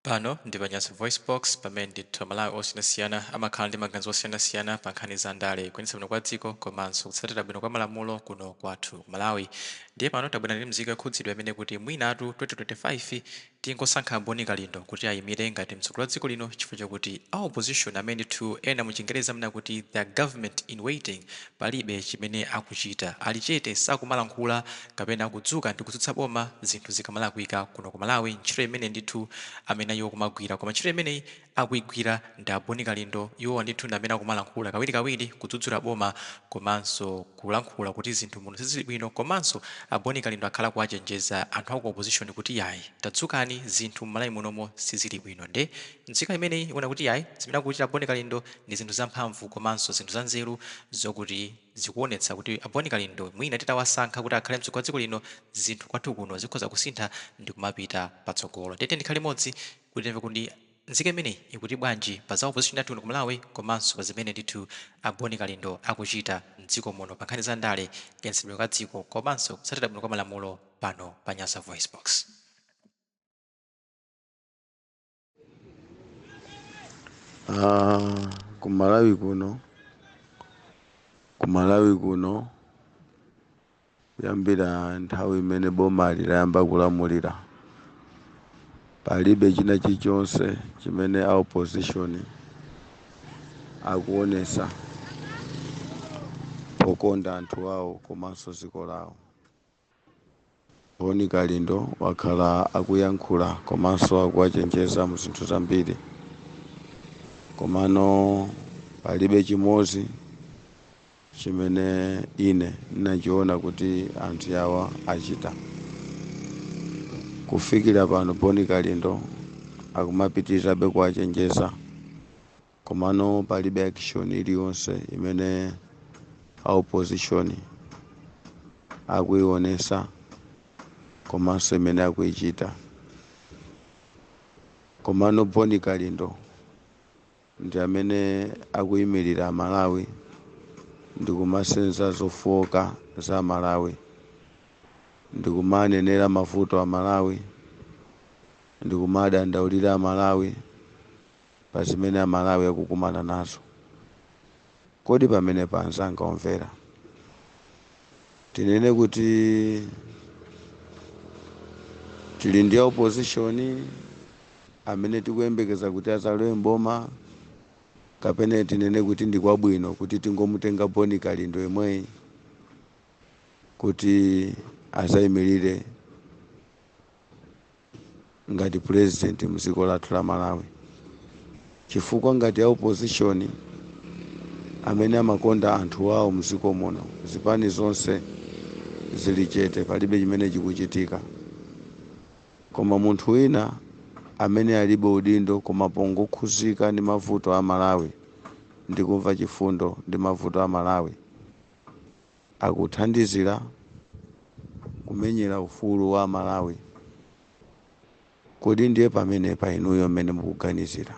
Pano ndi pa Nyasa VoiceBox, pamene ndithu Amalawi osiyanasiyana amakhala ndi maganizo osiyanasiyana pa nkhani za ndale, kuyendetsa bwino kwa dziko, komanso kutsatira bwino kwa malamulo kuno kwathu Malawi. Ndiye pano tabwera ndi mzika yokhudzidwa imene ikuti mwinatu 2025 tingosankha a Boni Kalindo kuti ayimire ngati mtsogoleri wa dziko lino chifukwa chakuti a opposition amene ndithu ena mu chingerezi amanena kuti they are government in waiting, Palibe chimene akuchita. Ali chete, sakumalankhula kapena kudzuka ndi kutsutsa boma zinthu zikamalakwika. Kuno ku Malawi ntchito imeneyi ndithu amene iwo kumagwira. Koma ntchito imeneyi akuigwira ndi a Boni Kalindo. Iwowa ndithu ndi amene akumalankhula kawirikawiri kudzudzula boma komanso kulankhula kuti zinthu muno sizili bwino. Komanso a Boni Kalindo akhala akuwachenjeza anthu a ku opposition kuti yayi tadzukani zinthu m'Malawi munomo sizili bwino nde Nzika imeneyi ikuwona kuti yayi zimene akuchita Boni Kalindo ndi zinthu zamphamvu komanso zinthu zanzeru zokuti zikuwonetsa kuti a Boni Kalindo mwina titawasankha kuti akhale mtsogoleri wa dziko lino zinthu kwathu kuno zikhoza kusintha ndikumapita patsogolo ndiye tiyeni tikhale limodzi kuti timve kuti nzika imeneyi ikuti bwanji pa za opposition yathu kuno ku Malawi komanso pa zimene ndithu a Boni Kalindo akuchita mdziko muno pa nkhani za ndale, kuyendetsa bwino kwa dziko komanso kutsatira bwino kwa malamulo pano pa Nyasa VoiceBox. Ku Malawi kuno kuyambira nthawi imene bomali layamba kulamulira palibe china chilichonse chimene a opposition akuonesa pokonda anthu awo komanso dziko lawo Boni Kalindo wakhala akuyankhula komanso akuwachenjeza mu zinthu zambiri komano palibe chimodzi chimene ine ndinachiona kuti anthu awa achita. Kufikira pano Boni Kalindo akumapitirizabe kuwachenjeza. Komano palibe action iliyonse imene a opposition akuionesa komanso imene akuichita. Komano Boni Kalindo ndi amene akuimirira a Malawi ndikumasenza zofooka za Malawi ndikumanenera mavuto a Malawi ndikumadandaulira a Malawi pa zimene Amalawi akukumana nazo. Kodi pamenepa anzanga omvera, tinene kuti tili ndi a opposition amene tikuyembekeza kuti adzalowe m'boma kapena tinene kuti ndi kwabwino kuti tingomutenga Boni Kalindo yemweyi kuti adzayimirire ngati president mdziko lathu la malawi chifukwa ngati a opposition amene amakonda anthu awo mdziko muno zipani zonse zili chete palibe chimene chikuchitika koma munthu wina amene alibe udindo koma pongokhuzika ndi mavuto a malawi ndi kumva chifundo ndi mavuto a malawi akuthandizira kumenyera ufulu wa amalawi kodi ndiye pamenepa inuyo mmene mukuganizira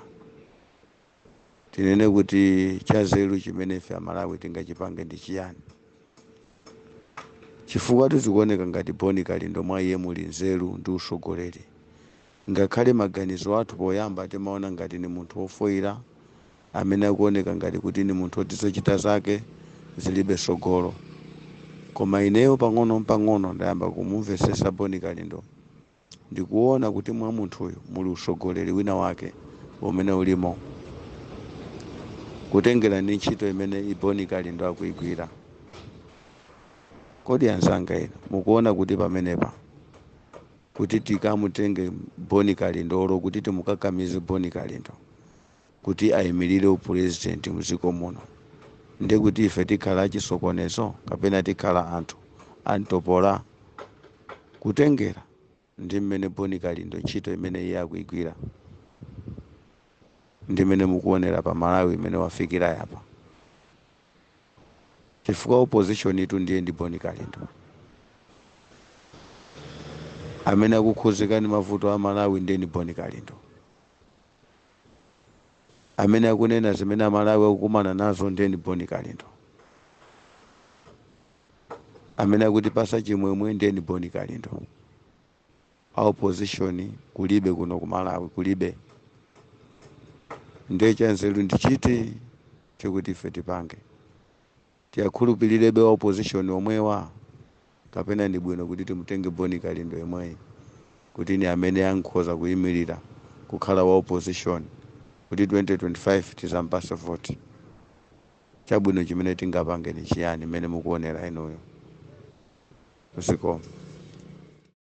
tinene kuti chanzeru chimene ife amalawi tingachipange ndi chiyani chifukwa zikuoneka ngati boni kalindo mwa iye muli nzeru ndi usogoleri Ngakhale maganizo athu poyamba timaona ngati ni munthu wofoira, amene akuoneka ngati kuti ni munthu woti zochita zake zilibe tsogolo. Koma ineyo pang'onopang'ono ndayamba kumumvetsetsa Bon Kalindo. Ndikuona kuti mwa munthuyu muli utsogoleli wina wake umene ulimo kutengera ni ntchito imene Bon Kalindo akuigwira. Kodi anzanga inu mukuona kuti pamenepa kuti tikamutenge Bon Kalindo olo kuti timukakamize Bon Kalindo kuti aimirire u president mdziko muno nde kuti ife tikhala achisokonezo kapena tikhala anthu amtopola? Kutengera ndi mmene Bon Kalindo ntchito imene iye akuigwira ndi mmene mukuonera pa Malawi mmene wafikira apa chifukwa opposition tu ndiye ndi boni kalindo amene akukhuzika ndi mavuto a malawi ndiye ndi boni kalindo amene akunena zimene amalawi akukumana nazo ndiye ndi boni kalindo amene akutipasa chimwemwe ndiye ndi boni kalindo a opposition kulibe kuno ku malawi kulibe ndiye chanzeru ndi chiti chokuti ife tipange tiwakhulupirirebe a opposition omwewa kapena ndi bwino kuti timutenge boni kalindo yemweyi kuti ni amene ankhoza kuyimirira kukhala wa opposition kuti 2025 tizampase voti chabwino chimene tingapange ni chiyani mmene mukuonera inuyo zikomo